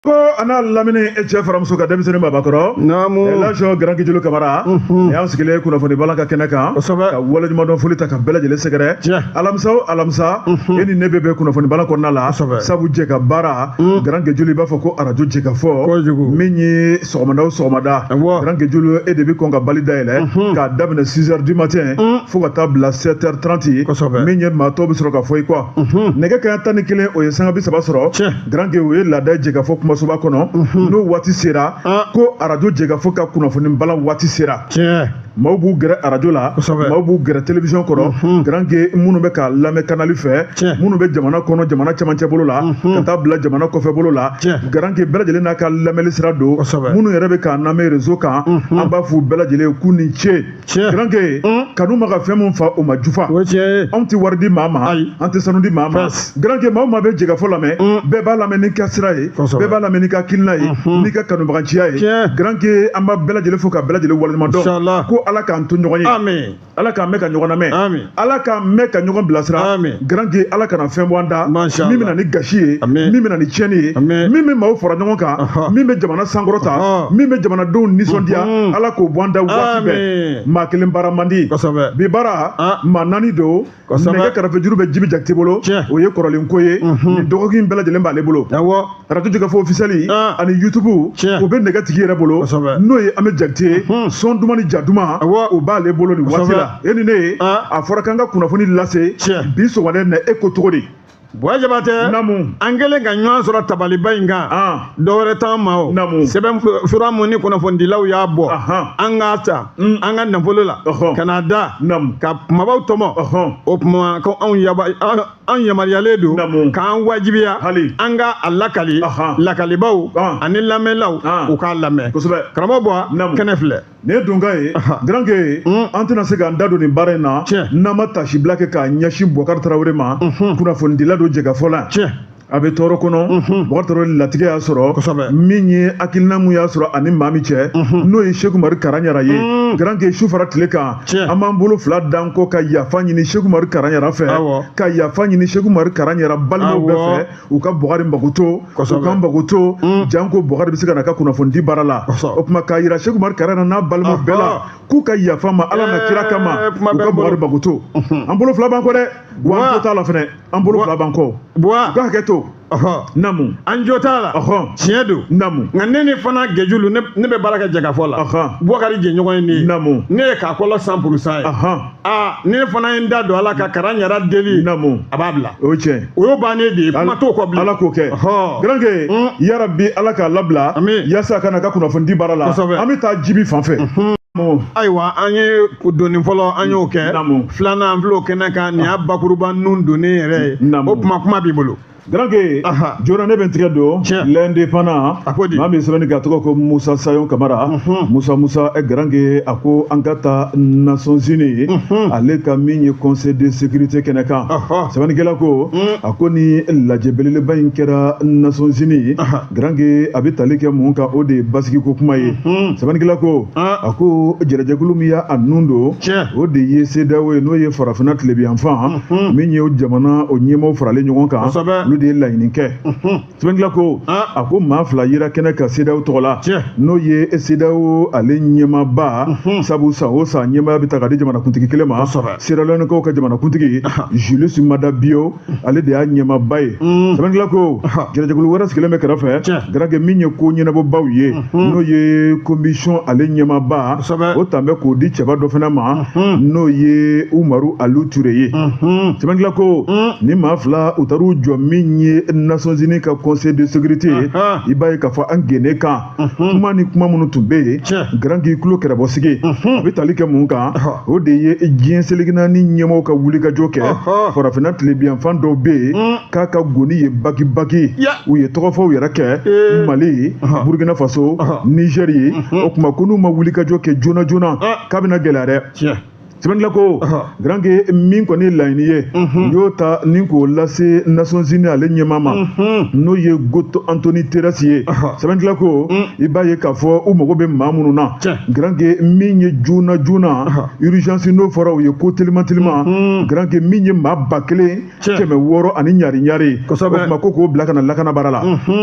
ko an'a lamini e cɛ fara muso kan denmisɛnnin babakɔrɔ naamu elasɔn garankijulu kamara nin y'an sigilen kunnafoni balan ka kɛnɛ kan kosɛbɛ ka waleɲumandɔn foli taa ka bɛɛ lajɛlen sɛgɛrɛ alamisa o alamisa e ni ne bɛ bɛn kunnafoni balan kɔnɔna la sabu jɛ ka baara mm. grand gejulu i b'a fɔ ko arajo jɛkafɔ kojugu min ye sɔgɔmada o sɔgɔmada grand gejulu e de bɛ kɔn ka bali dayɛlɛ mhm. k'a daminɛ 6 heures du matin mm. fo ka taa bila 7 heures 30 kosɛbɛ min ye maa tɔw bɛ sɔrɔ ka fɔ i kɔ mhm. nɛgɛ kanɲɛ tan ni kelen o ye sanga bi saba sɔrɔ grand ge o ye laada ye jɛkafɔ kumasoba kɔnɔ mhm. n'o waati sera ah. ko arajo jɛkafɔ ka kunnafoni balan waati sera maaw b'u gɛrɛ arajo la maaw b'u gɛrɛ télévision kɔrɔ mhm. garanke minnu bɛ k'a lamɛn kanali fɛ minnu bɛ jamana kɔnɔ jamana cɛmancɛ bolo la mhm. ka taa bila jamana kɔfɛ bolo la garanke bɛɛ lajɛlen n'a ka lamɛnli sira don minnu yɛrɛ bɛ k'an lamɛn rezo kan mhm. an b'a f'u bɛɛ lajɛlen ye k'u ni ce garanke kanu ma ka fɛn min fa o ma jufa anw tɛ wari di maa ma an tɛ sanu di maa ma garankɛ maa o maa bɛ jɛkafɔ lamɛn bɛɛ b'a lamɛn n'i ka sira ye bɛɛ b'a lamɛn n'i ka hakilina ye n'i ka kanubagaciya ye garankɛ an b'a bɛɛ lajɛlen fo ka bɛɛ lajɛlen waleɲuman dɔn ko ala k'an to ɲɔgɔn ye ala k'an mɛn ka ɲɔgɔn lamɛn ala k'an mɛn ka ɲɔgɔn bilasira garankɛ ala kana fɛn bɔ an da min bɛna ni gasi ye min bɛna ni tiɲɛni ye min bɛ maaw fara ɲɔgɔn kan min bɛ jamana sankɔrɔta min bɛ jamanadenw nisɔndiya ala k'o bɔ an da waati bɛɛ maa kelen baara man di bi baara maa naani don nɛgɛ karafe juru bɛ jibi jakite bolo o ye kɔrɔlen ko ye nin dɔgɔkin bɛɛ lajɛlen b'ale bolo radio jɛkafɔ officiel ani youtube o bɛ nɛgɛ tigi yɛrɛ bolo n'o ye an bɛ jakite ye sɔn duman ni ja duman o b'ale bolo nin waati la e ni ne ye a fɔra k'an ka kunnafoni lase bi sɔgɔma in na e ko cogo di Buwa Jabatɛ, naamu, an kɛlen ka ɲɔgɔn sɔrɔ tabaliba in kan, an, dɔ wɛrɛ t'an ma o, naamu, sɛbɛn fura mun ni kunnafonidilaw y'a bɔ, ahan, an k'a san mm. an ka nafolo la, ɔhɔ, ka n'a da, naamu, ka kumabaw tɔmɔ, ɔhɔ, o tuma ko anw yaba an yamaruyalen don, naamu, k'an wajibiya, hali, an ka a lakali, ahan, lakalibaw, an, ani lamɛnlaw, an, u k'a lamɛn, kosɛbɛ, karamɔgɔ Buwa, naamu, kɛnɛ filɛ. nin ye donkan ye garanke hmm. an tɛna se k'an da don nin baara in na n'an ma tasibila kɛ k'a ɲɛsin bukari tarawele ma hmm. kunnafonidila don jɛkafɔ la a bɛ tɔɔrɔ kɔnɔ mhm. bukari tarawele latigɛ y'a sɔrɔ min ye hakilina mun y'a sɔrɔ ani maa min cɛ mhm. n'o ye seku umari karanyara ye mhm. garanke su fara tile kan an b'an bolo fila d'an kɔ ka yafa ɲini seku umari karanyara fɛ ka yafa ɲini seku umari karanyara balimaw bɛɛ fɛ u ka bukari magoto u ka magoto mm. janko bukari bɛ se ka n'a ka kunnafonidi baara la o tuma k'a yira seku umari karanyara n'a balimaw bɛɛ la k'u ka yaf'a ma ala n'a eh, kira kama u ka bukari magoto mhm. an bolo fila b'an kɔ dɛ wa an jo t'a la fɛnɛ an bolo fila b'an kɔ u ka hakɛ to namu an jo t'a la tiɲɛ don namu nka ne nin fana gejulu ne bɛ baara kɛ jɛkafɔ la bukari jɛɲɔgɔn ye ne ye namu ne ye k'a kɔlɔ san purusan ye aa ne fana ye n da don a la ka kara ɲarɛ deli namu a b'a bila o ye tiɲɛ o y'o bannen de ye kuma t'o kɔ bilen ala k'o kɛ Ɔhɔ. garanke Mm. yarabi ala k'a labila Amin. yasa a ka n'a ka kunnafonidi baara la Kosɛbɛ. an bɛ taa jibi fan fɛ Namu. ayiwa an ye donni fɔlɔ an y'o kɛ Naamu. filanan an filɛ o kɛnɛ kan nin y'a bakuruba nun donnen yɛrɛ ye Naamu. o kuma kuma b'i bolo Garanke joona ne bɛ n tigɛ don l'indépendant maa min bɛ sɛbɛnni kɛ a tɔgɔ ko musa sayɔn kamara musa musa garanke a ko an ka taa nations unies ale ka min ye conseil de sécurité kɛnɛ kan sɛbɛnnikɛla ko a ko ni lajɛ belebeleba in kɛra nations unies garanke a bɛ tali kɛ mun kan o de ye basigiko kuma ye sɛbɛnnikɛla ko a ko jɛrɛjɛkulu min y'a nun don o de ye CEDEAO ye n'o ye farafinna tilebiyanfan Hmm. min ye o jamanaw ɲɛmaaw faralen ɲɔgɔn kan olu de ye laɲini kɛ hmm. sɛbɛnnikɛla ko ah. a ko maa fila yera kɛnɛ kan CEDEAO tɔgɔ la n'o ye CEDEAO ale ɲɛmaaba hmm. sabu san o san ɲɛmaaya bɛ ta ka di jamanakuntigi kelen ma seralɔnikaw ka jamanakuntigi ah. julius mada bio ale de y'a ɲɛmaaba ye sɛbɛnnikɛla ko jɛrɛjɛkulu wɛrɛ sigilen bɛ kɛrɛfɛ garanke min ye ko ɲɛnabɔbaw ye Hmm. n'o ye komisɔn ale ɲɛmaaba o talen bɛ k'o di cɛba dɔ fana ma hmm. n'o ye umaru alu ture ye hmm. sɛbɛnnikɛla ko ni maa fila u taar'u jɔ min ye nations unies ka conseil de sécurité ye i b'a ye k'a fɔ a kɛnɛ kan kuma ni kuma minnu tun bɛ yen garanke i tulo kɛrɛbɔsigi a bɛ tali kɛ mun kan o de ye diɲɛ seleke naani ɲɛmɔgɔw ka wulikajɔ kɛ farafinna tilebiyanfan dɔw bɛ yen k'a ka goni yen baki baki u ye tɔgɔfɔw yɛrɛ kɛ eh. mali ye burkina faso nizɛri ye mhm. o tuma ko n'u ma wulikajɔ kɛ joona joona ah. k'a bɛna gɛlɛya dɛ sɛbɛnnikɛla ko garanke min kɔni ye laɲini ye mhm. y'o ta ni k'o lase nations unies ale ɲɛmaa ma mhm. n'o ye goto antoni terɛsi ye sɛbɛnnikɛla ko mm. i b'a ye k'a fɔ u mago bɛ maa minnu na garanke min ye joona joona urgence n'o fɔra o ye ko teliman teliman garanke min ye maa ba kelen kɛmɛ wɔɔrɔ ani ɲari ɲari o tuma ko k'o bila ka na lakana baara la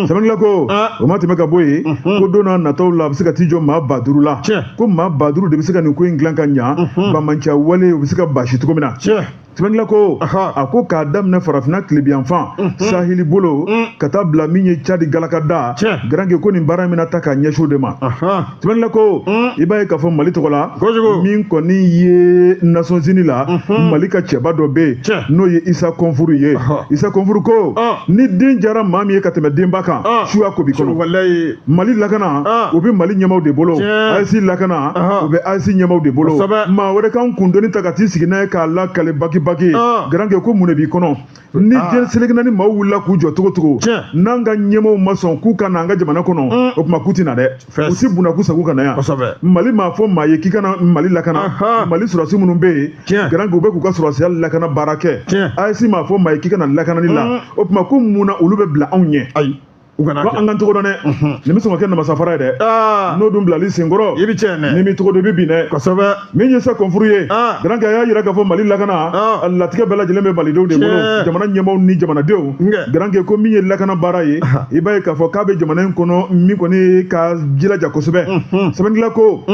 sɛbɛnnikɛla ko o mana tɛmɛ ka bɔ yen ko don nataw la a bɛ se ka t'i jɔ maa ba duuru la ko maa ba duuru de bɛ se ka nin ko in dilan ka ɲa bamanciya walew bɛ se ka basi cogo min na sɛbɛnnikɛla ko a ko k'a daminɛ farafinna tilebiyanfan saheli bolo ka taa bila min ye cadi galakada garanke ko nin baara in bɛna ta k'a ɲɛsin o de ma sɛbɛnnikɛla ko hmm. i b'a ye k'a fɔ mali tɔgɔ la min kɔni ye nations unies la hmm. mali ka cɛba dɔ bɛ yen n'o ye isa kɔnfuru ye isa kɔnfuru ko ah. ni den diyara maa min ye ka tɛmɛ denba kan ah. suya ko b'i kɔnɔ mali lakana ah. o bɛ mali ɲɛmaaw de bolo AES lakana o bɛ AES ɲɛmaaw de bolo maa wɛrɛ kana an kundoni ta ka t'i sigi n'a ye k'a lakali bakibaki garanke ko mun de b'i kɔnɔ ni ah. diɲɛ seleke naani maaw wulila k'u jɔ cogo cogo n'an ka ɲɛmaaw ma sɔn k'u ka na an ka jamana kɔnɔ mm. o tuma k'u tɛ na dɛ u si bɛna k'u sago ka na yan mali m'a fɔ maa ye k'i ka na mali lakana mali sɔrɔdasi minnu bɛ yen garankɛ u bɛ k'u ka sɔrɔdasiya lakana baara kɛ aes m'a fɔ maa ye k'i ka na lakanani la mm. o tuma ko mun na olu bɛ bila anw ɲɛ u ka na an k'an cogo dɔn dɛ nin bɛ sɔn ka kɛ namasafara ye dɛ n'o dun bilal'i senkɔrɔ i bɛ cɛɛnɛ dɛ n'i m'i cogo dɔn i bɛ bin dɛ kosɛbɛ min ye isa kɔnfuru ye garankɛ a y'a yira k'a fɔ mali lakana a latigɛ bɛɛ lajɛlen bɛ malidenw de bolo jamana ɲɛmaaw ni jamanadenw garankɛ ko min ye lakana baara ye i b'a ye k'a fɔ k'a bɛ jamana in kɔnɔ min kɔni ka jilaja kosɛbɛ sɛbɛnnila ko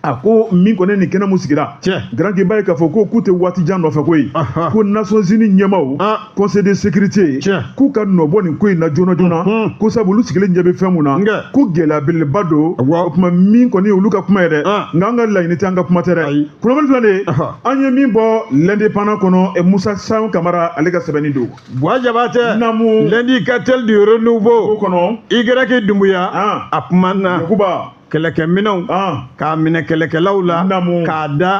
a ko min kɔni nin kɛnɛ min sigira garankɛ i b'a ye k'a fɔ ko k'u tɛ waati jan nɔfɛ koyi ko nations unies ɲɛmaaw ah. conseil de sécurité k'u ka nɔbɔ nin ko in na joona joona ko sabu olu sigilen ɲɛ bɛ fɛn mun na ko gɛlɛya belebeleba don o tuma min kɔni olu ka kuma ye dɛ ah. nka an ka laɲini tɛ an ka kuma tɛ dɛ kunnafoni filɛ nin ye an ye min bɔ l'indépendant kɔnɔ eh, musa sayɔn kamara ale ka sɛbɛnni don buwa jabatɛ namu l'indicateur du renouveau kɔnɔ y dumbuya ah. a kuma na yakuba kɛlɛkɛminɛnw k'a minɛ kɛlɛkɛlaw la k'a da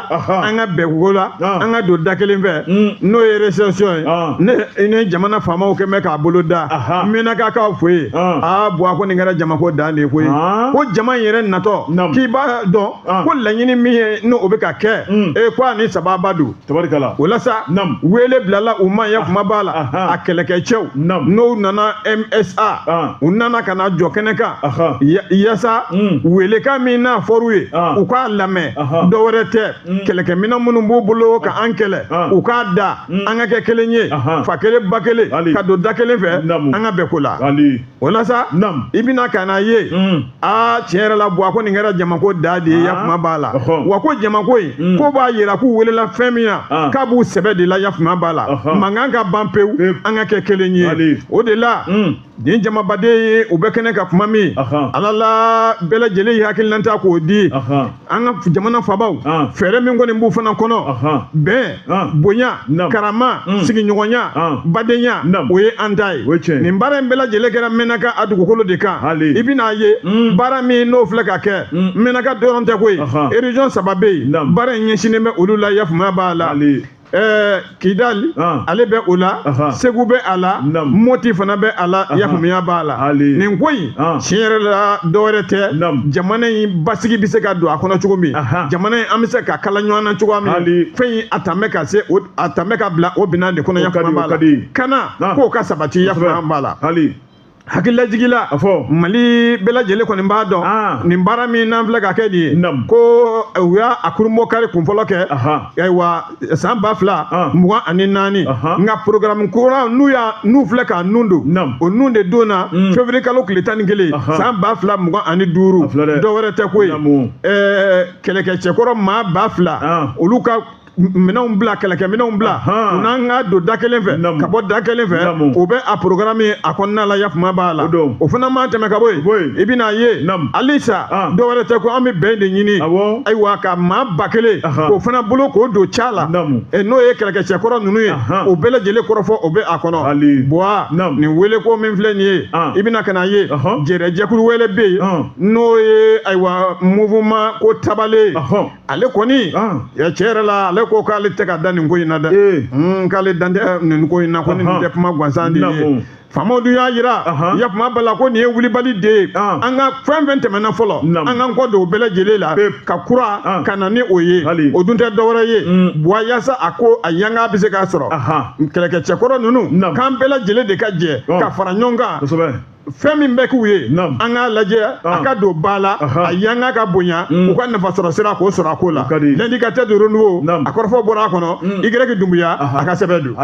an ka bɛn ko la an ka don da kelen fɛ mm. n'o ye réception ye ne i ni jamana faamaw kɛlen bɛ k'a boloda mɛnakakaw fɛ yen aa buwa ko nin kɛra jamako dan de ye koyi ko jama in yɛrɛ natɔ k'i b'a dɔn ko laɲini min ye n'o bɛ ka kɛ mm. e ko a ni sababa don tabarikala o la sa Naam. wele bilala u ma yafama b'a la Ahan. a kɛlɛkɛcɛw Naam. n'u nana msa Ah. u nana ka na jɔ kɛnɛ kan Ahan. Ya- yasa Mm. welekan min n'a fɔr'u ye Ah. u k'a lamɛn Ahan. dɔ wɛrɛ tɛ kɛlɛkɛminɛn minnu b'u bolo ka an kɛlɛ Ah. u k'a da an ka kɛ kelen ye Ahan. fa kelen ba kelen Hali. ka don da kelen fɛ Naamu. an ka bɛn ko la ali o la sa Naam. i bɛna ka n'a ye Mm. aa tiɲɛ yɛrɛ la buwa ko nin kɛra jamako dan de ye Ah. yafama b'a la Ɔhɔ. wa ko jamako in Mm. ko b'a yira k'u welela fɛn min na Ah. k'a b'u sɛbɛ de la yafama b'a la Ɔhɔ. mankan ka ban pewu Pewu. an ka kɛ kelen ye Wali. o de la Mm. nin jamabaden ye u bɛ kɛnɛ ka kuma min Ɔhɔ. ala la bɛɛ lajɛlen y'i hakilinanta k'o di Ɔhɔ. an ka jamana fabaw fɛɛrɛ min kɔni b'u fana kɔnɔ bɛn bonya karama mm. sigiɲɔgɔnya badenya o ye an ta ye nin baara in bɛɛ lajɛlen kɛra mɛnaka a dugukolo de kan i bɛn'a ye mm. baara min n'o filɛ ka kɛ mm. mɛnaka dɔrɔn tɛ koyi région saba bɛ yen baara in ɲɛsinnen bɛ olu la yafamaya b'a la Eh, kidali ah. ale bɛ o la segu bɛ a la moti fana bɛ a la yafamaya b'a la nin ko in ah. tiɲɛ yɛrɛ la dɔwɛrɛ tɛ jamana in basigi bɛ se ka don a kɔnɔ cogo min jamana in an bɛ se k'a kala ɲɔgɔn na cogoya min fɛn in a tɛmɛ ka se a tɛmɛ ka bila o bɛna de kɔnɔ yafama b'a la kana ah. k'o ka sabati yafamaya b'a la hakililajigila a fɔ mali bɛɛ lajɛlen kɔni b'a dɔn ah. nin baara min n'an filɛ k'a kɛ nin ye ko eh, u y'a a kurunbonkari kunfɔlɔ kɛ ayiwa san ba fila ah. mugan ani naani nka porogaramu kura n'u y'a n'u filɛ k'a nun don o nun de don na hmm. fevrier kalo tile tan ni kelen san ba fila mugan ani duuru dɔ wɛrɛ tɛ ko ye eh, kɛlɛkɛcɛkɔrɔ maa ba fila ah. olu ka minɛnw bila kɛlɛkɛminɛnw bila u n'an ka don da kelen fɛ ka bɔ da kelen fɛ o bɛ a programme ye a kɔnɔna la yafama b'a la o fana mana tɛmɛ ka bɔ yen i bɛn'a ye halisa dɔ wɛrɛ tɛ ko an bɛ bɛn de ɲini ayiwa ka maa ba kelen k'o fana bolo k'o don ca la n'o ye kɛlɛkɛcɛ kɔrɔ ninnu ye o bɛɛ lajɛlen kɔrɔfɔ o bɛ a kɔnɔ buwa nin wele ko min filɛ nin ye i bɛna ka n'a ye jɛrɛjɛkulu wɛrɛ bɛ yen n'o ye ayiwa mouvement ko tabale ale kɔni ah. tiɲɛ yɛrɛ la ale ko k'ale tɛ ka da nin ko in na dɛ eh. hmm, k'ale dan tɛ nin ko in na ko nin tɛ kuma gansan de ye faamaw dun y'a jira yafama b'a la ko nin ye wulibali de ye ah. an ka fɛn fɛn tɛmɛna fɔlɔ an k'an kɔ don o bɛɛ lajɛlen la ka kura ah. ka na ni o ye o dun tɛ dɔwɛrɛ ye mm. buwa yaasa a ko a yanga bɛ se k'a sɔrɔ kɛlɛkɛcɛkɔrɔ ninnu k'an bɛɛ lajɛlen de ka jɛ ka fara ɲɔgɔn kan fɛn min bɛ k'u ye an k'a lajɛ a ah. ka don ba la a yanga ka bonya mm. u ka nafasɔrɔ sira k'o sɔrɔ a ko la l'indicateur du renouveau a kɔrɔfɔ bɔra a kɔnɔ mm. igirɛki dumbuya a ka sɛbɛn don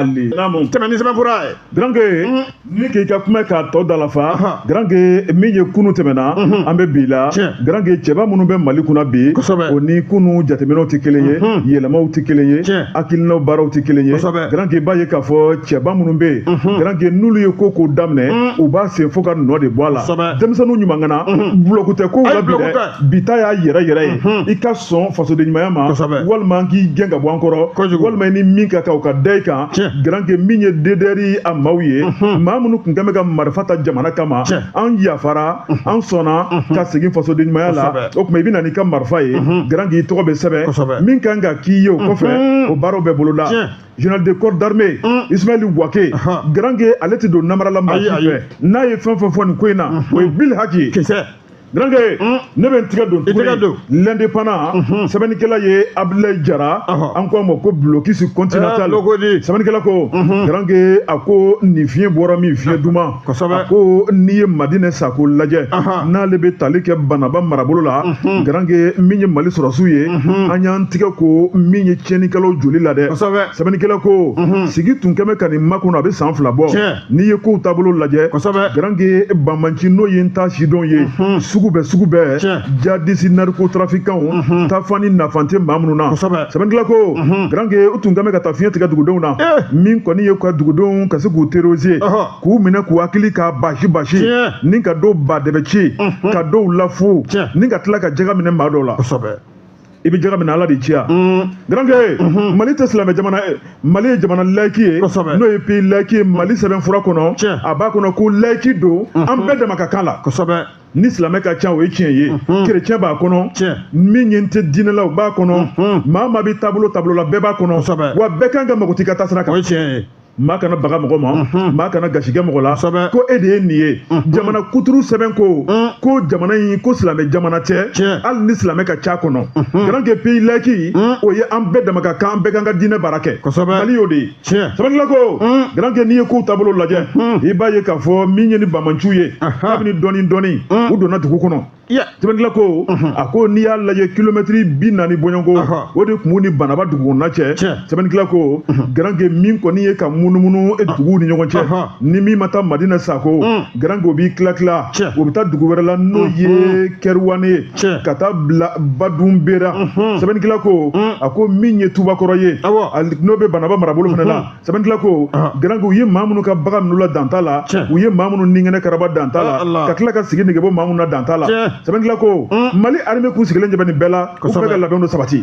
tɛmɛ ni sɛbɛnfura ye garanke mm. ni k'i ka kuma k'a tɔ dalafa garanke min ye kunu tɛmɛna mm-hmm. an bɛ bi la garanke cɛba minnu bɛ mali kunna bi o ni kunu jateminɛw tɛ kelen ye mm-hmm. yɛlɛmaw tɛ kelen ye hakilinaw baaraw tɛ kelen ye garanke b'a ye k'a fɔ cɛba minnu bɛ yen mhm. garanke n'olu ye ko ko daminɛ mhm. u b'a sen fo ka nɔ de bɔ a la denmisɛnninw ɲumankana mhm. bulɔku tɛ kow la bi dɛ bi ta y'a yɛrɛ yɛrɛ ye i ka sɔn fasodenɲumanya ma walima an k'i gɛn ka bɔ an kɔrɔ walima i ni min ka kan o ka da i kan garanke min ye dedɛri a maaw ye maa minnu tun kɛlen bɛ ka marifa ta jamana kama an yafara an sɔnna ka segin fasoden ɲumanya la o tuma i bɛ na n'i ka marifa ye Garanke i tɔgɔ bɛ sɛbɛn min kan ka k'i ye o kɔfɛ o baaraw bɛ boloda général de corps d'armée Ismaël Wagué Garanke ale tɛ don namara la maa si fɛ n'a ye fɛn fɛn fɔ nin ko in na o ye bilhaki ye Garanke ne bɛ n tigɛ don tuguni l'indépendant sɛbɛnnikɛla ye Abdoulaye Jara an ko a ma ko blocus continental sɛbɛnnikɛla ko Garanke a ko nin fiɲɛ bɔra min fiɲɛ duman kosɛbɛ a ko n'i ye madina sako lajɛ n'ale bɛ tali kɛ bananba marabolo la mhm. garange min ye mali sɔrɔdasiw ye mhm. an y'an tigɛ ko min ye tiɲɛnikɛlaw joli la dɛ sɛbɛnnikɛla ko mhm. sigi tun kɛlen bɛ ka nin makɔnɔ a bɛ san fila bɔ n'i ye kow taabolo lajɛ garange banbanci n'o ye n t'a sidɔn ye sugu bɛɛ sugu bɛɛ jadisi narikotarafikanw tafan ni nafan tɛ maa minnu na sɛbɛnnikɛla ko garanke u tun kan bɛ ka taa fiɲɛ tigɛ dugudenw na min kɔni ye ka dugudenw ka se k'u terroriser k'u minɛ k'u hakili ka basi basi ni ka dɔw ba dɛbɛ ci ka dɔw lafu ni ka tila ka jaka minɛ maa dɔw la i bɛ jaka minɛ ala de y'i ci wa garankɛ mali tɛ silamɛ jamana ye mali ye jamana layiki ye n'o ye pays layiki ye mali sɛbɛnfura kɔnɔ a b'a kɔnɔ ko layiki don an bɛɛ dama ka kan la ni silamɛ ka ca o ye tiɲɛ ye kerecɛn b'a kɔnɔ min ye n tɛ diinɛlaw b'a kɔnɔ maa maa bɛ taabolo taabolo la bɛɛ b'a kɔnɔ wa bɛɛ kan ka mago t'i ka taasira kan o ye tiɲɛ ye maa kana baga mɔgɔ ma maa kana gasi kɛ mɔgɔ la ko e de ye nin ye jamana kuturu sɛbɛn ko ko jamana in ko silamɛ jamana tɛ hali ni silamɛ ka ca a kɔnɔ garanke pays layiki o ye an bɛɛ dama ka kan an bɛɛ kan ka diinɛ baara kɛ mali y'o de ye tiɲɛ sɛbɛnnikɛla ko garankɛ n'i ye kow taabolo lajɛ i b'a ye k'a fɔ min ye ni bamanciw ye kabini dɔɔni dɔɔni u donna dugu kɔnɔ sɛbɛnnikɛla ko a ko n'i y'a lajɛ kilomɛtiri bi naani bɔɲɔgɔnko o de tun b'u ni banamba dugukɔnɔna cɛ sɛbɛnnikɛla ko garankɛ min kɔni ye ka munumunu e duguw ni ɲɔgɔn cɛ ni min ma taa madina sako garankɛ o b'i tila tila o bɛ taa dugu wɛrɛ la n'o ye kɛriwane ye ka taa bila badunbera sɛbɛnnikɛla ko a ko min ye tubakɔrɔ ye n'o bɛ banamba marabolo fana la sɛbɛnnikɛla ko garanke u ye maa minnu ka bagan minɛ u la dan t'a la u ye maa minnu ni kɛnɛ karaba dan t'a la ka tila ka sigi nege bɔ maa minnu na dan t'a la sɛbɛnnikɛla ko mali armée k'u sigilen ɲɛ bɛ nin bɛɛ la u bɛ ka labɛnw sabati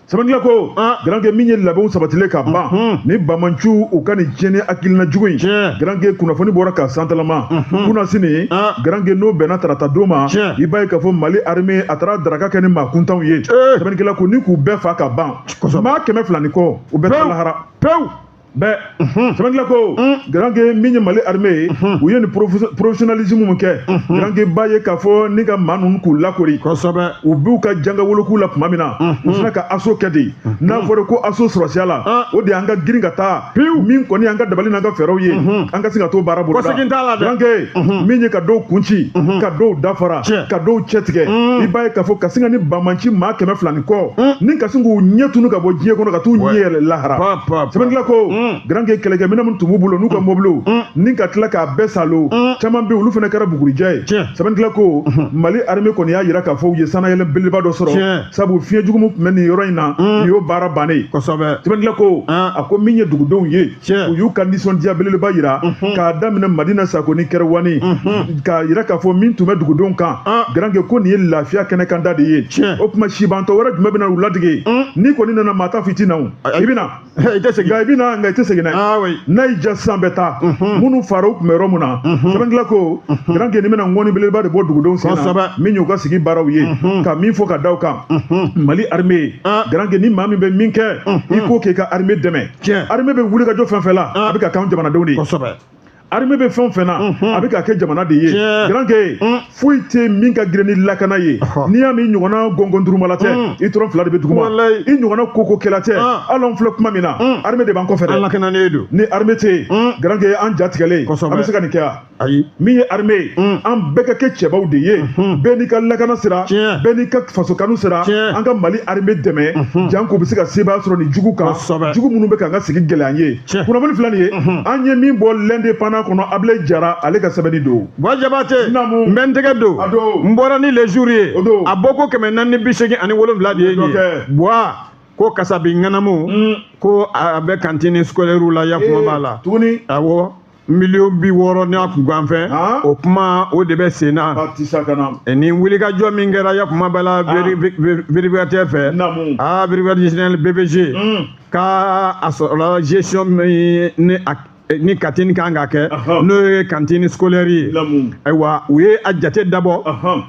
sɛbɛnnikɛla ko garankɛ min ye labɛnw sabatilen ka ban ni bamanciw u ka nin tiɲɛni hakilina jugu in garankɛ kunnafoni bɔra ka santalama kunnasini garankɛ n'o bɛnna tarata don ma i b'a ye k'a fɔ mali arime a taara daraka kɛ ni maa kuntanw ye sɛbɛnnikɛla ko ni k'u bɛɛ fa ka ban maa kɛmɛ fila ni kɔ u bɛɛ taa lahara pewu bɛɛ sɛbɛnnikɛla ko garanke min ye mali armée ye u ye nin professionnalisme min kɛ garanke b'a ye k'a fɔ ni ka maa ninnu k'u lakori kosɛbɛ u b'u ka janga wolokuu la tuma min na u sina ka assaut kɛ de n'a fɔra ko assaut sɔrɔsiya la o de y'an ka girin ka taa pewu min kɔni y'an ka dabali n'an ka fɛɛrɛw ye an ka se ka t'o baara boloda garanke mhm. min ye ka dɔw kunci mhm. ka dɔw dafara ka dɔw cɛtigɛ mhm. i b'a ye k'a fɔ ka sin ka nin bamanci maa kɛmɛ fila ni kɔ ni ka sin k'u ɲɛ tunu ka bɔ diɲɛ kɔnɔ ka t'u ɲɛ yɛlɛ lahara sɛbɛnnikɛla ko garanke kɛlɛkɛminɛn minnu tun b'u bolo n'u ka mobiliw ni ka tila k'a bɛɛ salo caman bɛ olu fana kɛra bugurijɛ ye sɛbɛnnikɛla ko mali arime kɔni y'a jira k'a fɔ u ye sannayɛlɛn belebeleba dɔ sɔrɔ sabu fiɲɛ jugu min tun bɛ nin yɔrɔ in na nin y'o baara bannen sɛbɛnnikɛla ko a ko min ye dugudenw ye u y'u ka nisɔndiya belebeleba jira k'a daminɛ madina sako ni kɛrɛwani k'a jira k'a fɔ min tun bɛ dugudenw kan garanke ko nin ye lafiya kɛnɛ kan da de ye o tuma sibantɔ wɛrɛ jumɛn bɛna u ladege n'i kɔni nana maa ta fiti na i bɛ na i bɛ na nka i tɛ segin n'a y'i ja san bɛ taa minnu fara u tun bɛ yɔrɔ min na sɛbɛnkila ko garanke ni bɛna ŋɔni belebeleba de bɔ dugudenw sen na min y'u ka sigi baaraw ye ka min fɔ ka da u kan mali armée garanke ni maa min bɛ min kɛ i k'o k'i ka armée dɛmɛ tiɲɛ armée bɛ wulikajɔ fɛn fɛn la a bɛ k'a k'an jamanadenw de ye kosɛbɛ armée bɛ fɛn o fɛn na a bɛ k'a kɛ jamana de ye garanke foyi tɛ min ka girin ni lakana ye n'i y'a mɛn i ɲɔgɔnna gɔngɔndurumala tɛ i tɔrɔn fila de bɛ duguma i ɲɔgɔnna kokokɛla tɛ hali anw filɛ kuma min na armée de b'an kɔfɛ dɛ an lakanalen don ni armée tɛ yen garanke an ja tigɛlen an bɛ se ka nin kɛ wa ayi min ye armée ye mm. an bɛɛ ka kɛ cɛbaw de ye mm-hmm. bɛɛ n'i ka lakana sira bɛɛ n'i ka faso kanu sira an ka mali armée dɛmɛ mm-hmm. jank'u bɛ se ka sebaaya sɔrɔ nin jugu kan jugu minnu bɛ k'an ka sigi gɛlɛya an ye kunnafoni fila nin ye mm-hmm. an ye min bɔ l'indépendant kɔnɔ ablaye jara ale ka sɛbɛnni don boy jabate n bɛ n tɛgɛ don n bɔra ni le jour ye a bɔko kɛmɛ naani ni bi seegin ani wolonwula de ye nin ye boy ko kasabi ŋanamu mm. ko a bɛ cantine scolaire la yakuma eh, b'a la tuguni awɔ miliyɔn bi wɔɔrɔ n'a kunkanfɛn o kuma o de bɛ sen na ni wulikajɔ min kɛra yakuma b'a la vérificateur fɛ aa vérificateur bvg ka a sɔrɔla gestion min ni a ni cantine kan ka kɛ n'o ye cantine scolaire ye ayiwa u ye a jate dabɔ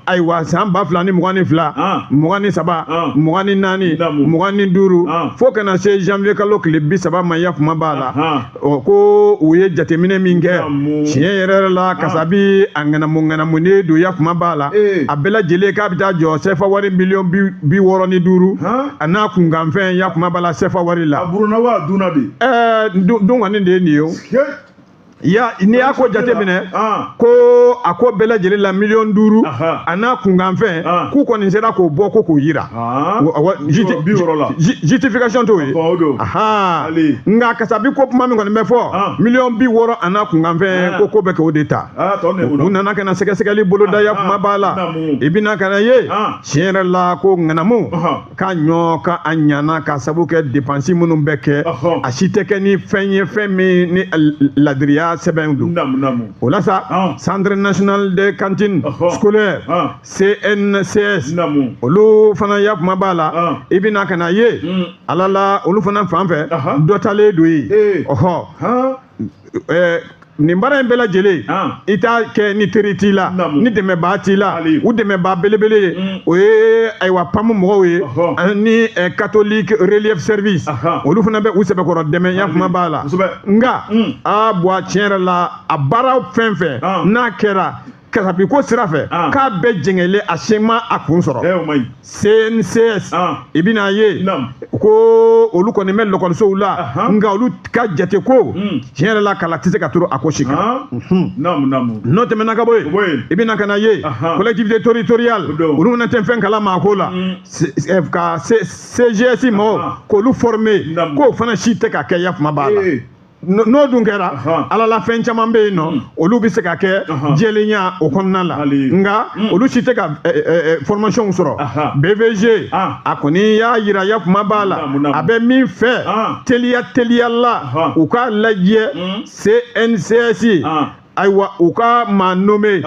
ayiwa san ba fila ni mugan ni fila mugan ni saba mugan ni naani mugan ni duuru fo ka na se janvier kalo tile bi saba ma yakuma b'a la ɔ ko u ye jateminɛ min kɛ tiɲɛ yɛrɛ yɛrɛ la kasabi a ŋanamu ŋanamunen don yakuma b'a la a bɛɛ lajɛlen k'a bɛ taa jɔ sɛfa wari miliyɔn bi wɔɔrɔ ni duuru a n'a kunkanfɛn yakuma b'a la sɛfa wari la ɛɛ don kɔni de ye nin ye o ya n'i y'a ko jateminɛ ko a ko bɛɛ lajɛlen la miliyɔn duuru a n'a kunkanfɛn k'u kɔni sera k'o bɔ ko k'o jira justification t'o ye nka kasabi ko kuma min kɔni bɛ fɔ miliyɔn bi wɔɔrɔ a n'a kunkanfɛn ko ko bɛ kɛ o de ta u nana ka na sɛgɛsɛgɛli boloda yakuma b'a la i bɛna ka n'a ye tiɲɛ yɛrɛ la ko ŋanamu ka ɲɔ ka a ɲana ka sabu kɛ depansi minnu bɛ kɛ a si tɛ kɛ ni fɛn ye fɛn min ni ladiriya sɛbɛn don o la sa centre national de cantine scolaire CNCS olu fana yafama b'a la ah. i bɛ na ka na ye hmm. ala la olu fana fan fɛ dɔ talen don yen eh. ɔhɔ eh, nin baara in bɛɛ lajɛlen ah. i t'a kɛ ni teri t'i la ni dɛmɛbaa t'i la u dɛmɛbaa belebele ye hmm. o ye ayiwa PAM mɔgɔw ye ani eh, catholique relief service olu fana bɛ u sɛbɛkɔrɔ dɛmɛ yafama b'a la nka hmm. a bɔ a tiɲɛ yɛrɛ la a baara fɛn fɛn ah. n'a kɛra kasabiko sira fɛ ah. k'a bɛɛ jɛngɛlen a si ma a kun sɔrɔ CNCS ah. i bɛna ye ko olu kɔni bɛ lakɔlisow la nka olu ka jate ko hmm. tiɲɛ yɛrɛ la kala tɛ se ka turu a ko si kan ah. mhm. n'o tɛmɛna ka bɔ yen i bɛna ka na ye collectivité territoriale olu fana tɛ fɛn kala ma a ko la hmm. eh, ka CGS mɔgɔw k'olu former k'o fana si tɛ ka kɛ yafama b'a la. n'o dun kɛra ala la fɛn caman bɛ yen nɔ hmm. olu bɛ se ka kɛ jɛlenya o kɔnɔna la nka hmm. olu si tɛ ka eh, eh, eh, formation sɔrɔ BVG ah. a kɔni y'a yira yafama b'a la a bɛ min fɛ ah. teliya teliya la u k'a lajɛ hmm. CNCS ah. ayiwa u ka maa nommé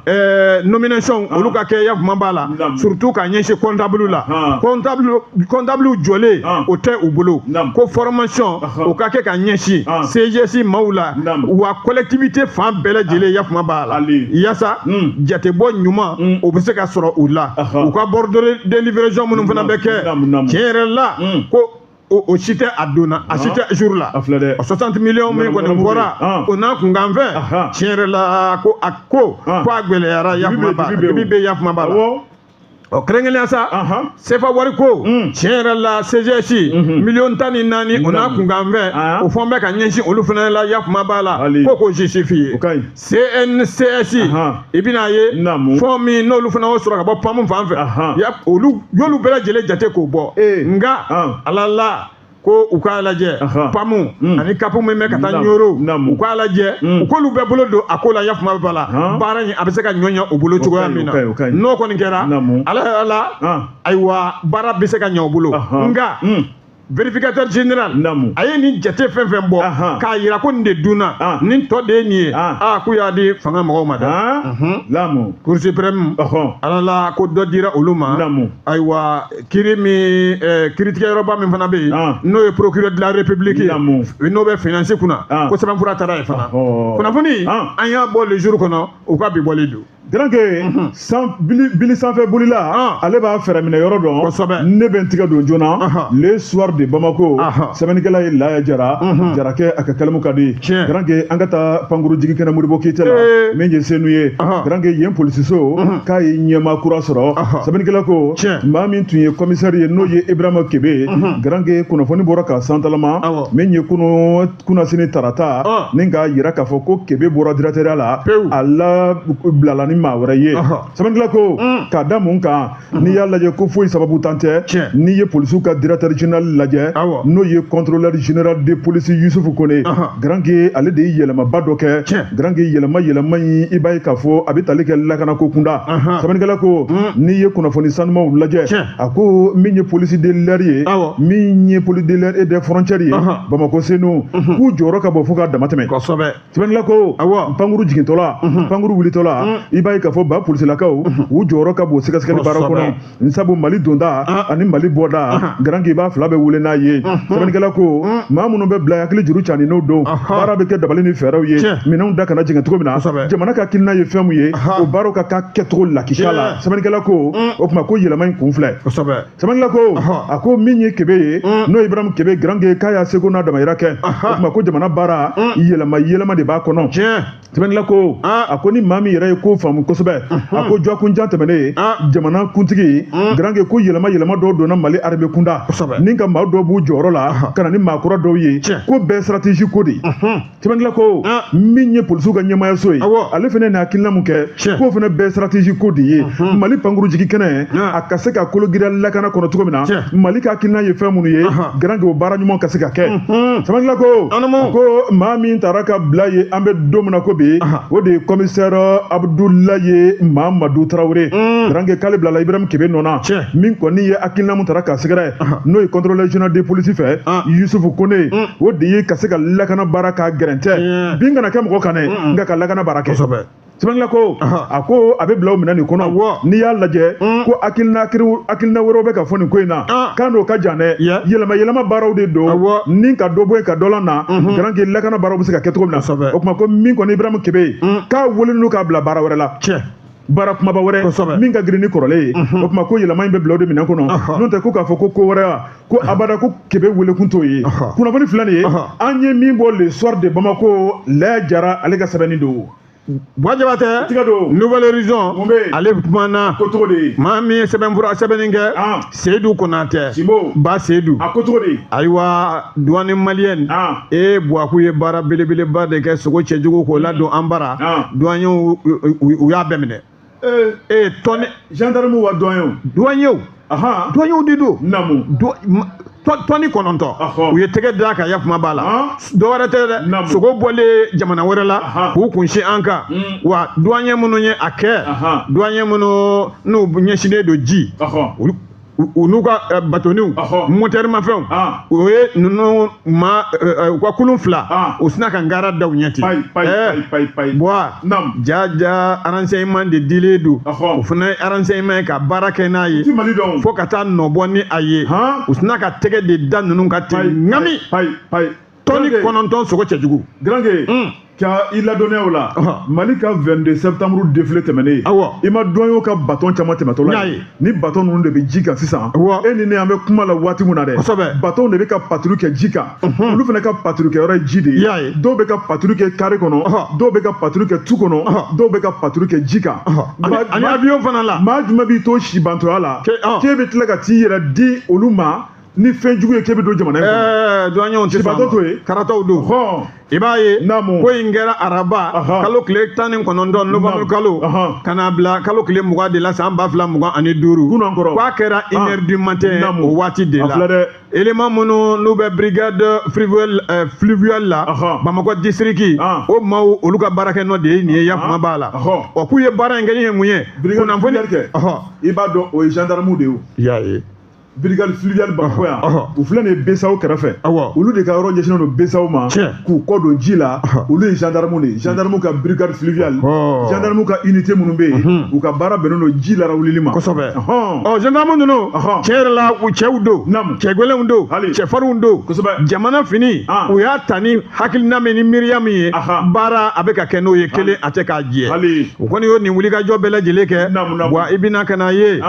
eh, nomination olu ka kɛ yafama b'a la surtout ka ɲɛsin comptable la comptable jɔlen o tɛ u bolo ko formation o ka kɛ ka ɲɛsin CGS maaw la wa collectivité fan bɛɛ lajɛlen yafama b'a la yasa hmm. jatebɔ ɲuman hmm. o bɛ se ka sɔrɔ u la u ka bordereau de livraison minnu fana bɛ kɛ tiɲɛ yɛrɛ la hmm. ko o o si tɛ a donna a si tɛ jour la a filɛ dɛ o 60 millions min kɔni Nɔnɔmugu bɔra bɛ yen. o n'a kunkanfɛn Ahan. tiɲɛ yɛrɛ la ko a ko Ah. ko a gɛlɛyara yafama b'a dibi bɛ dibi bɛ yafama b'a la awɔ ɔ kɛrɛnkɛrɛnnenya sa Ahan. sefa wari ko Mm. tiɲɛ yɛrɛ la CGS Mhm. miliyɔn tan ni naani o n'a Naani. kunkanfɛn Ah. o fɛn bɛ ka ɲɛsin olu fana la yafama b'a la Hali. ko k'o justifier o ka ɲi CNCS i bɛna a ye fɛn min n'olu fana y'o sɔrɔ ka bɔ PAM fan fɛ olu y'olu bɛɛ lajɛlen jate k'o bɔ nka ala la ko u k'a lajɛ PAM hmm. ani CAP min bɛ ka taa Nioro u k'a lajɛ hmm. u k'olu bɛɛ bolo don a ko la yafama b'a la baara in a bɛ se ka ɲɔ ɲɛ u bolo cogoya min na n'o kɔni kɛra ala la ayiwa baara bɛ se ka ɲɛ u bolo nka hmm. vérificateur général namu a ye nin jate fɛn fɛn bɔ k'a yira ko nin de dunna ah. nin tɔ de ye nin ye ah. Ah, k'u y'a di fanga mɔgɔw ma dɛ mhm. namu cour suprême ala la ko dɔ dira olu ma namu ayiwa kiiri min eh, kiiritigɛyɔrɔba min fana bɛ yen n'o ye procureur de la république namu n'o bɛ finance kunna ko sɛbɛnfura taara yen fana kunnafoni an y'a bɔ le jour kɔnɔ u ka bi bɔlen don Garankɛ bili sanfɛ bolila ale b'a fɛɛrɛ minɛ yɔrɔ dɔn ne bɛ n tigɛ don joona le soir de bamakɔ sɛbɛnnikɛla ye laya jara jarakɛ a ka kalimu ka di garankɛ an ka taa pankuru jigin kɛnɛ modibo keyita la min ye senu ye garankɛ yen polisiso k'a ye ɲɛmaa kura sɔrɔ sɛbɛnnikɛla ko maa min tun ye commissaire ye n'o ye ibrahima kebe garankɛ kunnafoni bɔra ka santalama min ye kunun kunasini tarata ni k'a jira k'a fɔ ko kebe bɔra directeurya la a la bilala ni maa wɛrɛ ye sɛbɛnnikɛla ko mm. k'a da mun kan mm-hmm. n'i y'a lajɛ ko foyi sababuntan tɛ n'i ye polisiw ka directeur général lajɛ n'o ye contrôleur général de police yusufu kone garanke ale de ye yɛlɛmaba dɔ kɛ garanke yɛlɛma yɛlɛma in i b'a ye k'a fɔ a bɛ tali kɛ lakana ko kunda sɛbɛnnikɛla ko mm. n'i ye kunnafoni sanumaw lajɛ a ko min ye police de l'air ye min ye police de l'air et des frontières ye bamakɔ senu mhm. k'u jɔyɔrɔ ka bon fo k'a dama tɛmɛ kosɛbɛ sɛbɛnnikɛla ko awa pankuru jigintɔla mhm. pankuru wulitɔla mhm. i b'a ye k'a fɔ ba polisilakaw u jɔyɔrɔ ka bon sɛgɛsɛgɛli baara kɔnɔ n sabu mali donda ah. ani mali bɔda ah. garankɛ i b'a fila bɛ wele n'a ye sɛbɛnnikɛla ko maa minnu bɛ bila hakili juru cani n'o don baara bɛ kɛ dabali ni fɛɛrɛw ye minɛnw da kana jigin cogo min na jamana ka hakilina ye fɛn min ye o baaraw ka k'a kɛcogo lakika la sɛbɛnnikɛla ko o tuma ko yɛlɛma in kun filɛ Sɛbɛnnikɛla ko a ko min ye kebe ye mm. n'o ibrahima kebe garankɛ k'a y'a seko n'a damayira kɛ o tuma ko jamana baara mm. yɛlɛma yɛlɛma de b'a kɔnɔ sɛbɛnnikɛla ko ah. a ko ni maa min yɛrɛ ye ko faamu kosɛbɛ mm-hmm. a ko dɔgɔkun jan tɛmɛnen ye ah. jamana kuntigi mm. garankɛ ko yɛlɛma yɛlɛma dɔw donna mali armée kunda ni ka maa dɔw b'u jɔyɔrɔ la ka na ni maa kura dɔw ye ko bɛɛ stratégie ko de mm-hmm. Sɛbɛnnikɛla ko min ye polisiw ka ɲɛmaayaso ye ale fana ni hakilina min kɛ k'o fana bɛɛ stratégie ko de ye mali pankuru jigin kɛnɛ a ka se ka kologiriya lakana kɔnɔ cogo min na mali ka hakilina ye fɛn minnu ye garankɛ o baara ɲuman ka se ka kɛ sɛbɛnnikɛla ko ko maa min taara ka bila yen an bɛ don min na ko bi o de ye commissaire abudulayi mamadu tarawele garankɛ k'ale bilala ibrahima kebe nɔ na min kɔni ye hakilina min taara k'a sɛgɛrɛ n'o ye contrôleur général de police fɛ yusufu kone o de ye ka se ka lakana baara ka gɛrɛntɛ bin kana kɛ mɔgɔ kan dɛ nka ka lakana baara kɛ sɛbɛnnikɛla ko a ko a bɛ bila o minɛn nin kɔnɔ n'i y'a lajɛ ko hakilina wɛrɛw bɛ ka fɔ nin ko in na k'a n'o ka jan dɛ yɛlɛma yɛlɛma baaraw de don ni ka dɔ bɔ yen ka dɔ lana garankɛ lakana baaraw bɛ se ka kɛ cogo min na o tuma ko min kɔni ibrahima kebe k'a welelen don k'a bila baara wɛrɛ la baara kumaba wɛrɛ min ka girin ni kɔrɔlen ye o tuma ko yɛlɛma in bɛ bila o de minɛn kɔnɔ n'o tɛ ko k'a fɔ ko ko wɛrɛ wa ko abada ko kebe welekun t'o ye kunnafoni filanan ye an ye min bɔ le soir de bamako laya jara ale ka sɛbɛnni don Bua jabatɛ tigɛ don nouvel horizon mun bɛ ale kumana ko cogo de maa min ye sɛbɛnfura sɛbɛnni kɛ seyidu konatɛ ba seyidu a ko cogo di ayiwa duwani maliyɛn ah. e buwaku ye baara belebeleba de kɛ sogo cɛjugu k'o ladon an bara ah. duwanɲɛw y'a bɛɛ minɛ ee eh, eh, tɔni gendarme wa duwanɲɛw duwanɲɛw duwanɲɛw de don namu tɔni kɔnɔntɔn u ye tɛgɛ da a kan yakuma b'a la dɔwɛrɛ tɛ dɛ sogo bɔlen jamana wɛrɛ la k'u kunsin an kan hmm. wa duwanɲɛ minnu ye a kɛ duwanɲɛ minnu n'u ɲɛsinnen don ji olu u n'u ka eh, batoniw motɛrimafɛnw ah. o ye ninnu ma eh, eh, u ka kulun fila ah. u sina ka ngara da u ɲɛ ten bɔa ja ja aranseyiman de dilen don o fana ye aranseyiman ye ka baara kɛ n'a ye fo ka taa nɔbɔ ni a ye u sina ka tɛgɛ de da ninnu kan ten ŋami tɔni kɔnɔntɔn sogo cɛjugu granke hmm. ka i ladɔnniya o la mali ka 22 septembre defile tɛmɛnen awɔ i ma duwanɲɛw ka baton caman tɛmɛtɔ la ni baton ninnu de bɛ ji kan sisan awɔ e ni ne an bɛ kuma la waati min na dɛ kosɛbɛ baton de bɛ ka paturu kɛ ji kan olu fana ka paturu kɛ yɔrɔ ye ji de ye y'a ye dɔw bɛ ka paturu kɛ kare kɔnɔ dɔw bɛ ka paturu kɛ tu kɔnɔ dɔw bɛ ka paturu kɛ ji kan ani avion fana la maa jumɛn b'i to sibantɔya la k'e bɛ tila ka t'i yɛrɛ di olu ma ni fɛn jugu ye k'e bɛ don jamana in kɔnɔ. ɛɛ duwanɲɛw tɛ sɔn a ma sibantɔ t'o ye. karatɔw don. hɔn i b'a ye Naamu. ko in kɛra araba Ahan. kalo tile tan ni kɔnɔntɔn Naamu. novanburu kalo Ahan. ka na bila kalo tile mugan de la san ba fila mugan ani duuru Kunun kɔrɔ. k'a kɛra une heure du matin Naamu. o waati de A la filɛ dɛ. élément minnu n'u bɛ brigade fluviale eh, fluviale la Ahan. bamakɔ distriki Ahan. o maaw olu ka baarakɛ nɔ de ye nin ye ya kuma b'a la Ahan. ɔ k'u ye baara in kɛ ni ye mun ye Brigade kunnafoni fluviale kɛ. Ɔhɔ. i b'a dɔn o ye gendarmew de ye o. i y'a ye brigade fluviale bamakɔ yan u filɛ nin ye BCEAO kɛrɛfɛ olu de ka yɔrɔ ɲɛsinnen don BCEAO ma k'u kɔ don ji la olu ye gendarme de ye gendarme ka brigade fluviale gendarme ka unité minnu bɛ yen u ka baara bɛnnen don ji lara wulili ma kosɛbɛ ɔ gendarme ninnu tiɲɛ yɛrɛ la u cɛw don cɛ gɛlɛnw don cɛfarinw don kosɛbɛ jamana fini u y'a ta ni hakilina min ni miiriya min ye baara a bɛ ka kɛ n'o ye kelen a tɛ k'a jɛ u kɔni y'o nin wulikajɔ bɛɛ lajɛlen kɛ wa i bɛna ka na ye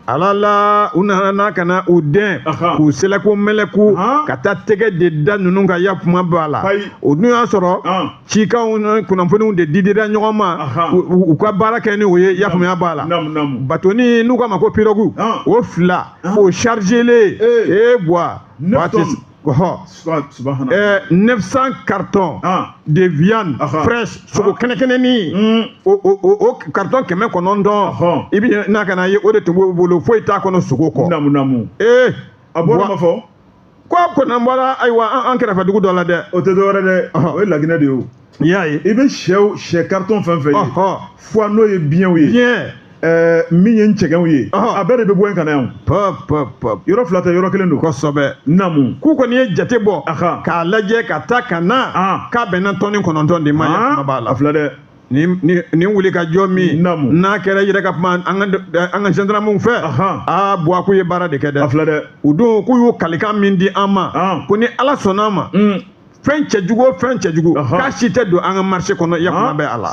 ala la u nana n'a ka na u dɛn Ahan. k'u sɛlɛku mɛlɛku Ahan. ka taa tɛgɛ de da ninnu kan ya kuma b'a la Ayi. o dun y'a sɔrɔ An. cikanw ni kunnafoniw de didira ɲɔgɔn ma Ahan. u- u u ka baara kɛ ni o ye ya faamuya b'a la Namu namu. batoni n'u k'a ma ko pirogue An. o fila An. o chargelen Ee. ee bwa Neuf tonnes. 900 cartons ah. de viande ah, ah. fraîche sogo kɛnɛkɛnɛni hmm. o carton kɛmɛ kɔnɔntɔn i bi n'a kana ye o de tun b'o bolo foyi t'a kɔnɔ sogo kɔ namu namu ee a bɔra ma fɔ ko a kɔnɔ bɔra ayiwa an kɛrɛfɛ dugu dɔ la dɛ o tɛ dɔwɛrɛ dɛ o ye laginɛ de ye o i y'a ye i bɛ sɛw sɛ karitɔn fɛn fɛn ye foie n'o ye biɲɛw ye biɲɛ eh, min ye n cɛgɛnw ye a bɛɛ de bɛ bɔ yen ka na yan yɔrɔ fila tɛ yɔrɔ kelen don kosɛbɛ namu k'u kɔni ye jate bɔ k'a lajɛ ka taa ka na ah. k'a bɛnna tɔni kɔnɔntɔn de ma ah. b'a la a filɛ dɛ nin wuli ka jɔ min n'a kɛra yɛrɛ ka kuma an ka zandaramuw fɛ aa buwa k'u ye baara de kɛ dɛ o don k'u y'u kalikan min di an ma ko ni ala sɔnna an ma fɛn cɛjugu o fɛn cɛjugu k'a si tɛ don an ka marché kɔnɔ yakuma bɛ a la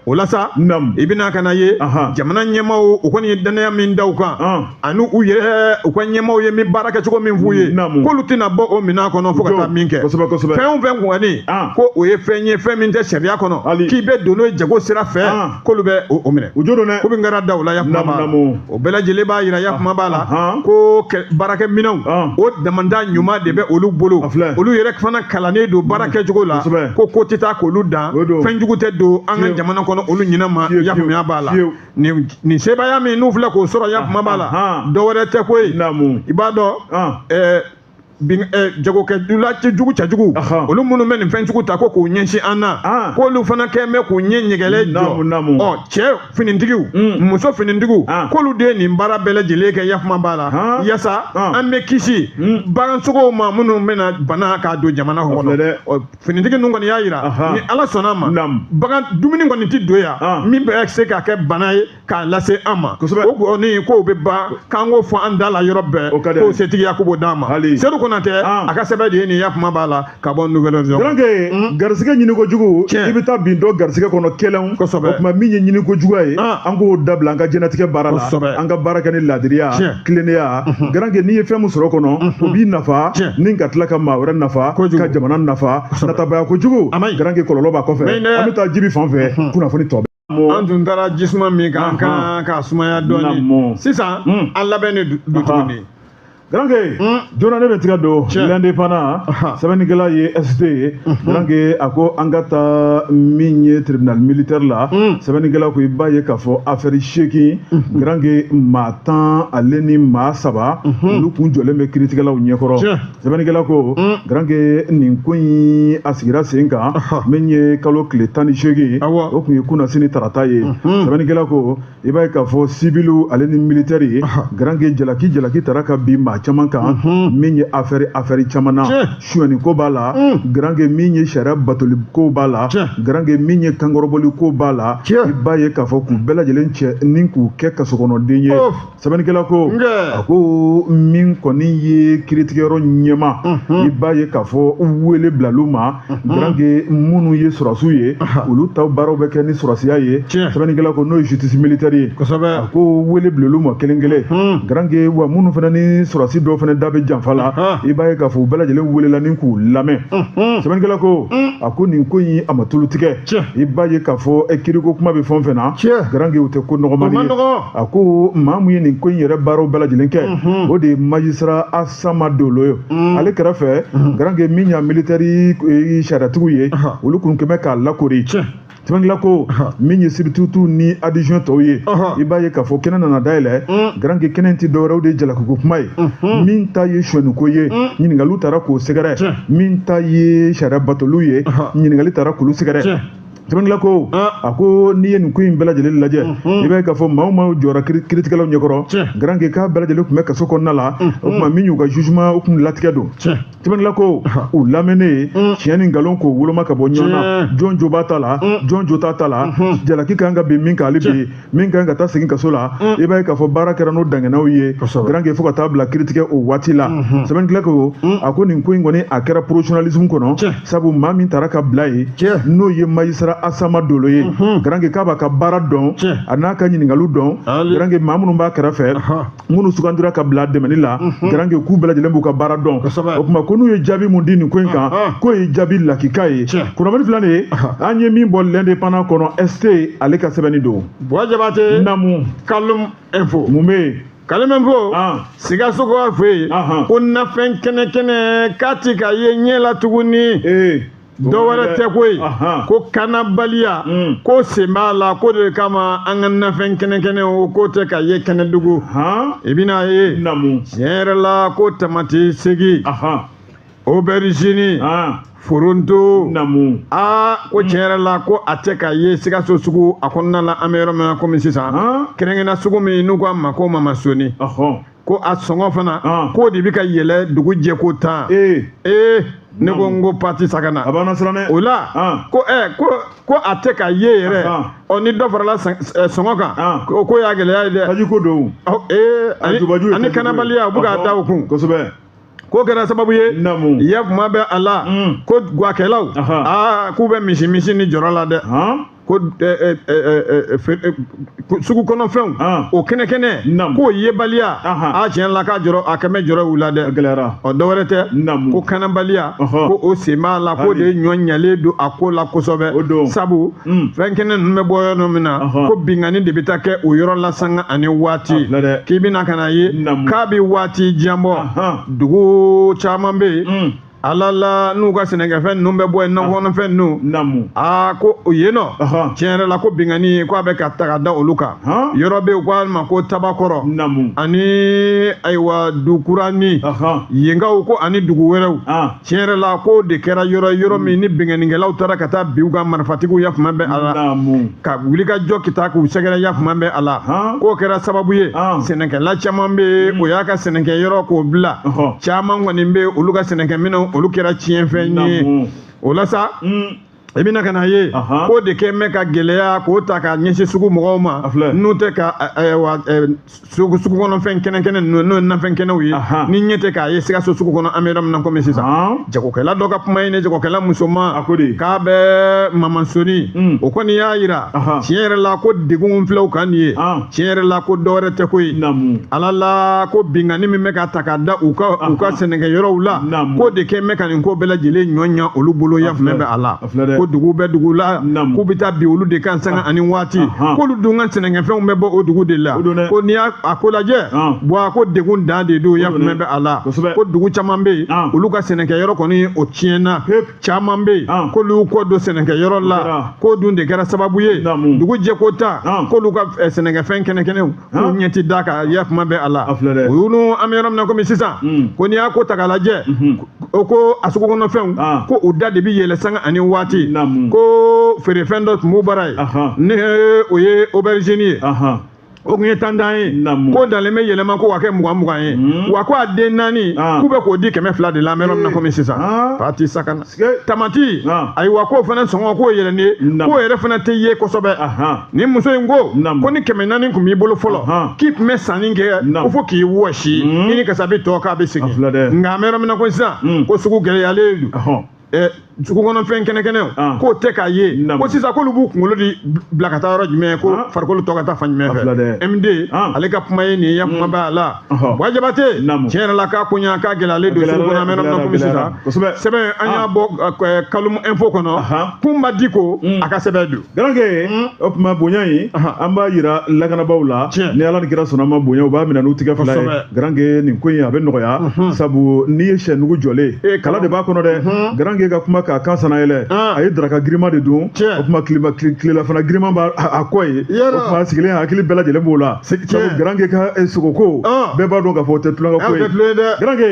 o la sa i bɛna ka na ye jamana ɲɛmaaw u kɔni ye dannaya min da u kan ani u yɛrɛ u ka ɲɛmaaw ye min baara kɛcogo min f'u ye k'olu tɛna bɔ o minɛn kɔnɔ fo ka taa min kɛ fɛn o fɛn kɔni ko o ye fɛn ye fɛn min tɛ sariya kɔnɔ k'i bɛ don n'o ye jago sira fɛ k'olu bɛ o o minɛ o jo don dɛ ko min kɛra da o la yakuma b'a la Namu, namu. o bɛɛ lajɛlen b'a jira yakuma b'a la Ahan. ko kɛ- baarakɛminɛnw Ahan. o damanda ɲuman de bɛ olu bolo A filɛ. olu yɛrɛ fana kalannen don baara kɛcogo la Kosɛbɛ. ko ko tɛ taa k'olu dan O don. fɛn jugu tɛ don an ka Fiyewu. jamana kɔnɔ olu ɲinɛ ma Fiyewu, yakuma b'a la fiyewu. nin nin sebaaya min n'u filɛ k'o sɔrɔ yakuma b'a la Ahan. dɔ wɛrɛ tɛ koyi Namu. i b'a dɔn Ah. ɛɛ, Eh, jagokɛ jula cɛjugu cɛjugu olu minnu bɛ nin fɛnjugu ta ko k'u ɲɛsin an na ah. k'olu fana kɛlen bɛ k'u ɲɛ ɲɛgɛlɛ jɔ ɔ cɛ finitigiw mm. muso finitigiw ah. k'olu de ye nin baara bɛɛ lajɛlen kɛ yakuma b'a la ah. yaasa an bɛ kisi mm. bagansogow ma minnu bɛna bana k'a don jamana kɔnɔ finitigi ninnu kɔni y'a jira ni ala sɔnna ma bagan dumuni kɔni tɛ don yan min bɛ se k'a kɛ bana ye k'a lase an ma kosɛbɛ o kɔni k'o bɛ ban k'an k'o fɔ an da la yɔrɔ bɛɛ o ka di k'o setigiya ko b'o d'an ma hali sedu konatɛ ah. a ka sɛbɛn de ye nin yakuma b'a la ka bɔ Nouvel Horizon garanke hmm? garisɛgɛ ɲini kojugu i bɛ taa bin dɔ garisɛgɛ kɔnɔ kɛlɛnw kosɛbɛ o tuma min ye ɲini kojuguya ye ah. an k'o dabila an ka jɛnatigɛ baara la kosɛbɛ an ka baara kɛ ni laadiriya tilennenya mhm. garanke n'i ye fɛn min sɔrɔ kɔnɔ mhm. o b'i nafa ni ka tila ka maa wɛrɛ nafa ka jamana nafa natabaya kojugu garanke kɔlɔlɔ b'a kɔfɛ an bɛ taa jibi fan fɛ mhm. kunnafoni tɔ an tun taara jisuma min k'an kan ka sumaya dɔɔnin sisan hmm. an labɛn de don tuguni Garanke hmm. joona ne bɛ tigɛ don l'Indépendant sɛbɛnnikɛla ye ST ye Garanke hmm. a ko an ka taa min ye tribunal militaire la sɛbɛnnikɛla ko i b'a ye k'a fɔ afɛri seegin Garanke maa tan ale ni maa saba olu kun jɔlen bɛ kiritigɛlaw ɲɛkɔrɔ sɛbɛnnikɛla ko garanke nin ko in a sigira sen kan min ye kalo tile tan ni seegin ye o tun ye kunasini tarata ye sɛbɛnnikɛla ko i b'a ye k'a fɔ sibili ale ni militɛri ye garanke jalaki jalaki taara ka bin maa caman kan min ye afɛri afɛri caman na sonyani ko b'a la garanke min ye sariya batoli ko b'a la garanke min ye kankɔrɔbɔli ko b'a la i b'a ye k'a fɔ k'u bɛɛ lajɛlen cɛ ni k'u kɛ kasokɔnɔden ye sɛbɛnnikɛla ko a ko min kɔni ye kiritigɛyɔrɔ ɲɛma i b'a ye k'a fɔ wele bilal'u ma garanke minnu ye sɔrɔsiw ye olu ta baaraw bɛ kɛ ni sɔrɔsiya ye sɛbɛnnikɛla ko n'o ye justice militaire ye a ko wele bilal'u ma kelen kelen garanke wa minnu fana ni sɔrɔsi dɔw fana da bɛ janfa la i b'a ye k'a fɔ u bɛɛ lajɛlen welela ni k'u lamɛn sɛbɛnnikɛla ko a ko nin ko in a ma tulu tigɛ i b'a ye k'a fɔ kiriko kuma bɛ fɛn o fɛn na garanke o tɛ ko nɔgɔmani ye a ko maa min ye nin ko in yɛrɛ baaraw bɛɛ lajɛlen kɛ mhm. o de ye magistrat asama dolo ye mhm. ale kɛrɛfɛ mhm. garanke min y'a militaire e, sariyatigiw ye olu kun kɛmɛ k'a lakori sɛbɛnnikɛla ko min ye substitut ni adjoint tɔw ye i b'a ye k'a fɔ kɛnɛ nana dayɛlɛ mm. garanke kɛnɛ tɛ dɔwɛrɛ o de ye jalakiko kuma ye mm-hmm. min ta ye sonyɛniko ye mm. ɲininkaliw taara k'o sɛgɛrɛ min ta ye sariya batoliw ye ɲininkali taara k'olu sɛgɛrɛ sɛbɛnnikɛla ko a ko n'i ye nin ko in bɛɛ lajɛlen lajɛ i b'a ye k'a fɔ maa o maa jɔra kiritigɛlaw ɲɛkɔrɔ garanke k'a bɛɛ lajɛlen tun bɛ kaso kɔnɔna la o tuma min y'u ka jugement o tun latigɛ don sɛbɛnnikɛla ko u lamɛnnen tiɲɛ ni nkalon k'o woloma ka bɔ ɲɔgɔn na jɔn jo b'a ta la jɔn jo t'a ta la jalaki ka kan ka bin min kan ale bɛ yen min kan ka taa segin kaso la mm. i b'a ye k'a fɔ baara kɛra n'o danganaw ye garanke fo ka taa bila kiritigɛ o waati la mm-hmm. sɛbɛnnikɛla ko mm. a ko nin ko in kɔni a kɛra professionnalisme kɔnɔ sabu maa min tara ka bila ye n'o ye magistrat asama dolo ye mm-hmm. garanke k'a b'a ka baara dɔn a n'a ka ɲininkaliw dɔn garanke maa minnu b'a kɛrɛfɛ minnu sugandira ka bila dɛmɛni la garanke k'u bɛɛ lajɛlen b'u ka baara dɔn o tuma ko n'u ye jaabi mun di nin ko in kan k'o ye jaabi lakika ye kunnafoni filɛ nin ye an ye min bɔ l'indépendant kɔnɔ ST ale ka sɛbɛnni don buwa jabate namu kalum info mun bɛ yen kalum info sikaso ko a fɛ yen ko nafɛn kɛnɛ kɛnɛ k'a ti ka ye ɲɛ la tuguni dɔ wɛrɛ tɛ koyi ko kanabaliya hmm. k'o sen b'a la k'o de kama an ka nafɛn kɛnɛkɛnɛw k'o tɛ ka ye kɛnɛdugu i bɛn'a ye tiɲɛ yɛrɛ la ko tamati segi aubergine foronto namu aa ko tiɲɛ yɛrɛ la ko a tɛ ka ye sikaso sugu a kɔnɔna la an bɛ yɔrɔ min na komi sisan kɛrɛnkɛrɛnna sugu min n'u ko a ma ko mamasoni ko a sɔngɔ fana ah. k'o de bɛ ka yɛlɛ dugu jɛko tan ee ee ne ko n ko pati sagana a b'an siran dɛ o la ah. ko ɛ eh, ko ko a tɛ ka ye yɛrɛ ah, ɔ ni dɔ farala eh, sɔngɔ kan o ko y'a gɛlɛya ye dɛ tajiko don ee ani kanabaliya u bɛ k'a da o kun kosɛbɛ k'o kɛra sababu ye ya kuma bɛ a la mm. ko gwakɛlaw aa k'u bɛ misi misi ni jɔrɔ la dɛ ko sugu kɔnɔfɛnw o kɛnɛ kɛnɛ k'o yebaliya a tiɲɛ la k'a jɔrɔ a kɛ mɛ jɔrɔ u la dɛ gɛlɛyara ɔ dɔwɛrɛ tɛ ko kanabaliya ko o sen b'a la k'o de ɲɔ ɲalen don a ko la kosɛbɛ o don sabu fɛn kɛnɛ ninnu bɛ bɔ yɔrɔ min na ko binkanni de bɛ taa kɛ o yɔrɔ la sanga ani waati k'i bɛna ka na ye k'a bɛ waati jan bɔ dugu caman bɛ yen ala la n'u ka sɛnɛkɛfɛn ninnu bɛ bɔ yen nakɔ kɔnɔfɛn ninnu naamu aa ko o yen nɔ tiɲɛ yɛrɛ la ko binkanni ko a bɛ ka ta ka da olu kan yɔrɔ bɛ yen u k'a ma ko tabakɔrɔ naamu ani ayiwa dukurani yenkaw ko ani dugu wɛrɛw tiɲɛ yɛrɛ la k'o de kɛra yɔrɔ yɔrɔ min ni binkannikɛlaw taara ka taa bin u kan marifatigiw yafama bɛ a la naamu ka wuli ka jɔ ka taa k'u sɛgɛrɛ yafama bɛ a la k'o kɛra sababu ye sɛnɛkɛla caman bɛ mm. o y'a ka sɛnɛkɛ yɔrɔ k'o bila caman kɔni bɛ olu ka sɛnɛkɛminɛnw olu kɛra tiɲɛfɛn ye o la sa mm. i bɛna ka na ye k'o de kɛ mɛ ka gɛlɛya k'o ta ka ɲɛsin sugu mɔgɔw ma n'u tɛ ka wa sugu sugu kɔnɔ fɛn kɛnɛ kɛnɛ ninnu n'o ye nafɛn kɛnɛw ye n'i ɲɛ tɛ k'a ye sikaso sugu kɔnɔ an bɛ yɔrɔ min na komi sisan jagokɛla dɔ ka kuma ye nin ye jagokɛla musoman k'a bɛ mamasoni hmm. o kɔni y'a yira tiɲɛ yɛrɛ la ko degun filaw kan nin ye tiɲɛ yɛrɛ la ko dɔwɛrɛ tɛ koyi ala la ko binkanni min bɛ ka ta ka da u ka u ka sɛnɛkɛ yɔrɔw la k'o de kɛ mɛ ka nin ko bɛɛ lajɛlen ɲɔ ɲa olu bolo yafama bɛ a la ko dugu bɛ dugu la k'u bɛ taa bin olu de kan sanga ah. ani waati k'olu dun ka sɛnɛkɛfɛnw bɛ bɔ o dugu de la ko n'i y'a a ko lajɛ bɔn a ko degun dan de don yafama bɛ a la ko dugu caman bɛ yen olu ka sɛnɛkɛ yɔrɔ kɔni o tiɲɛna caman bɛ yen k'olu kɔ don sɛnɛkɛ yɔrɔ la k'o dun de kɛra sababu ye dugu jɛko ta k'olu ka eh, sɛnɛkɛfɛn kɛnɛkɛnɛw k'u ɲɛ ti da a kan yafama bɛ a la o y'olu an bɛ yɔrɔ min na komi sisan hmm. ko n'i y'a ko ta k'a lajɛ hmm. o ko a sugu kɔnɔ fɛnw ah. ko u da de bi yɛlɛn sanga ani waati ko feerefɛn dɔ tun b'u bara yen ni o ye aubergine ye o tun ye tan tan ye ko dalen bɛ yɛlɛma ko ka kɛ mugan mugan ye hmm. wa ko a den naani ah. k'u bɛ k'o di kɛmɛ fila de la an bɛ yɔrɔ min na komi sisan pati sakana tamati ayiwa k'o fana sɔngɔ k'o yɛlɛnnen k'o yɛrɛ fana tɛ ye kosɛbɛ ni muso in ko ko ni kɛmɛ naani tun b'i bolo fɔlɔ k'i tun bɛ sanni kɛ ko fo k'i wɔsi i ni kasabi tɔ k'a bɛ segin nka an bɛ yɔrɔ min na ko sisan ko sugu gɛlɛyalen don sugu kɔnɔfɛn kɛnɛkɛnɛw k'o tɛ k'a ye ko sisan k'olu b'u kunkolo de bila ka taa yɔrɔ jumɛn ko farikolo tɔ ka taa fan jumɛn fɛ MD ale ka kuma ye nin ye yafama b'a la wa jabate tiɲɛ yɛrɛ la k'a ko ɲa k'a gɛlɛyalen don sugu kɔnɔ an bɛ yɔrɔ min na komi sisan sɛbɛn an y'a bɔ kalum info kɔnɔ kun ma di ko a ka sɛbɛn don garankɛ o tuma bonya in an b'a yira lakanabaaw la ni ala ni kira sɔnna a ma bonya u b'a minɛ n'u tigɛ fila ye garankɛ nin ko in a bɛ nɔgɔya sabu n'i ye sɛ nugu jɔlen kala de b'a kɔnɔ dɛ garankɛ ka kuma k'a kan sanna yɛlɛ a ye daraka girima de dun o tuma tilelafana girima b'a kɔ ye o tuma sigilen hakili bɛɛ lajɛlen b'o la Sabu garankɛ ka sogo ko bɛɛ b'a dɔn k'a fɔ o tɛ tulonkɛ ko ye garankɛ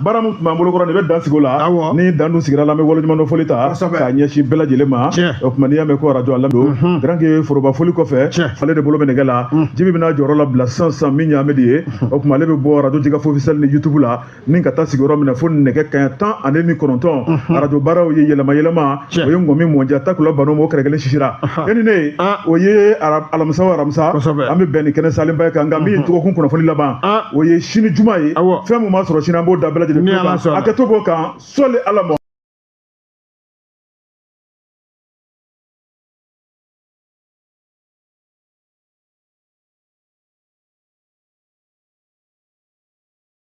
baara min tun b'an bolo kɔrɔ nin bɛ dan sigi o la ni dan dun sigira a la an bɛ waleɲumandɔn foli ta k'a ɲɛsin bɛɛ lajɛlen ma o tuma n'i y'a mɛn ko arajo ala don garankɛ foroba foli kɔfɛ ale de bolo bɛ nɛgɛ la jibi bɛna jɔyɔrɔ labila san san min ɲamɛ de ye o tuma ale bɛ bɔ arajo jɛkafɔ officiel ni youtube la ni ka taa sigi yɔrɔ min na fo nɛgɛ kaɲɛ tan ani ni kɔnɔntɔn mhm. arajo baaraw ye yɛlɛma yɛlɛma o ye ŋɔmi mɔɲa takula banna o ma o kɛrɛ kelen sisira e ni ne ah. o ye alamisa o alamisa an bɛ bɛn ni kɛnɛ salenba ye kan nka min ye dɔgɔkun kunnafoni laban ah. o ye sini juma ye fɛn min b'a sɔrɔ sini an b'o da bɛɛ lajɛlen a kɛ to b'o kan sɔli ala ma